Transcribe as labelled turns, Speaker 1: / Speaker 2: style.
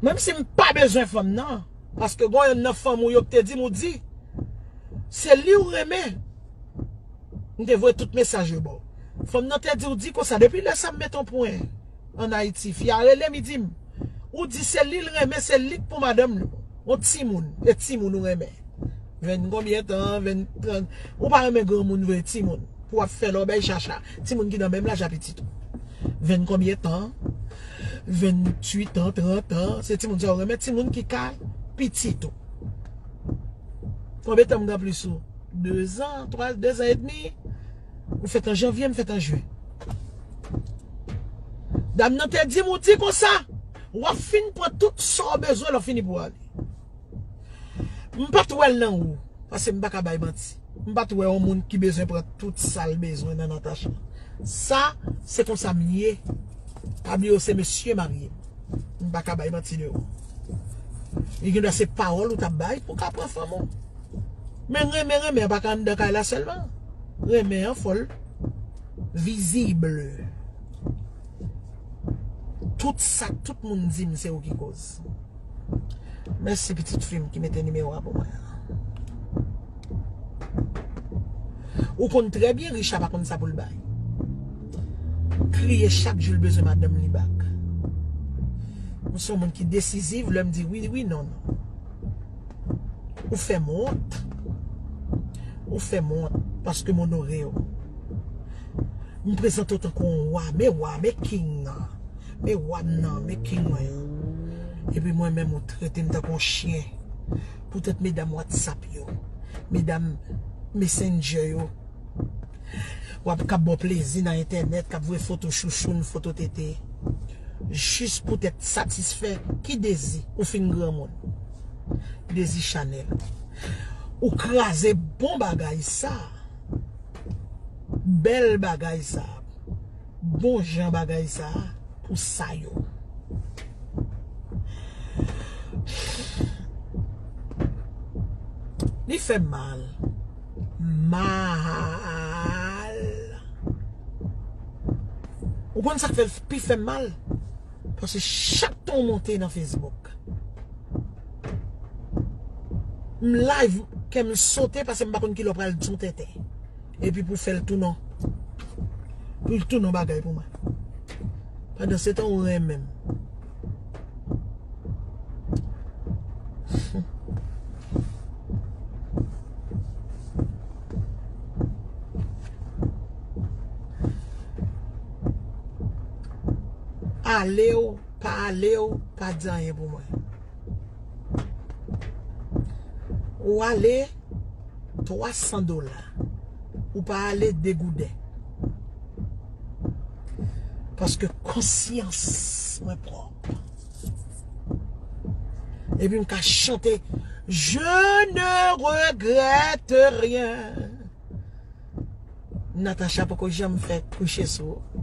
Speaker 1: Menm si m pa bezwen fanm nan, paske gon yonn nan fanm ou yo k te di m ou di se li ou renmen, m te voye tout mesaj yo ba w. Fanm nan te di ou di konsa, depi lè sa m met on pwen an Ayiti, fi a rele m li di m ou di se li l renmen, se li k pou madanm li. On timoun, e timoun ou renmen. Vennkonbyen tan, venntrant, ou pa renmen granmoun vre, timoun pou w ap fè lòbèy chacha. Timoun ki nan menm laj a pitit ou. Venn konbyen tan, venn tuit an, trant an, se timoun sa ou renmen, timoun ki ka pitit ou. Konbyen tan m gen anplis ou? Dezan, twa, dezan edmi. Ou fèt an janvye, m fèt an jen. Dam nan te di m ou di konsa, w ap fin pran tout sa ou bezwen lè w fini pou w ale. M pat wèl nan ou Pase m pa ka bay manti M pat wè yon moun ki bezwen pran tout sal bezwen nan Natacha Sa se konsa m ye Pa bliye w se mesye marye M pa ka bay manti de ou Li gen dwa se pawòl ou tap bay pou ka pran fanm ou Men renmen renmen an pa ka anndan kay la sèlman Renmen an fòl visible Tout sa tout moun di m se ou ki koz. Mèsi pitit fi m ki mete nimewo a pou mwen an. Ou konn trè byen Richa pa konn sa pou l bay. Kriye chak jou l bezwen madanm li bak. Mwen son moun ki desiziv lè m di wi wi non non. Ou fè m wont. Ou fè m wont paske m onore w. M prezante w tankou yon wa, men wa, men king nan. Men wa m nan, men king mwen yo. Epi mwen menm ou trete m tankou yon chyen. Poutèt medam whatsapp yo, medam messenger yo. Wa p kab ba w plezi nan entènèt, k ap voye foto chouchoun, foto tete. Jis poutèt satisfè ki dezi ou fin granmoun. Dezi chanèl. Ou kraze bon bagay sa. Bèl bagay sa. bon jan bagay sa pou sa yo. Li fè m mal. Mal. Ou konn sa k fè l pi fè m mal? Paske chak tan w monte nan Facebook. M live kè m sote paske m pa konn ki lè w pral di yon tenten. Epi pou fèl tou non. Poul tou non bagay pou mwen. Pandan se tan ou renmen m. Ale ou pa ale ou pa di anyen pou mwen. Ou ale. 300 dola ou pa ale degouden paske konsyans mwen prop epi m ka chante je ne regrette rien Natacha poko janm fè kouche sou ou.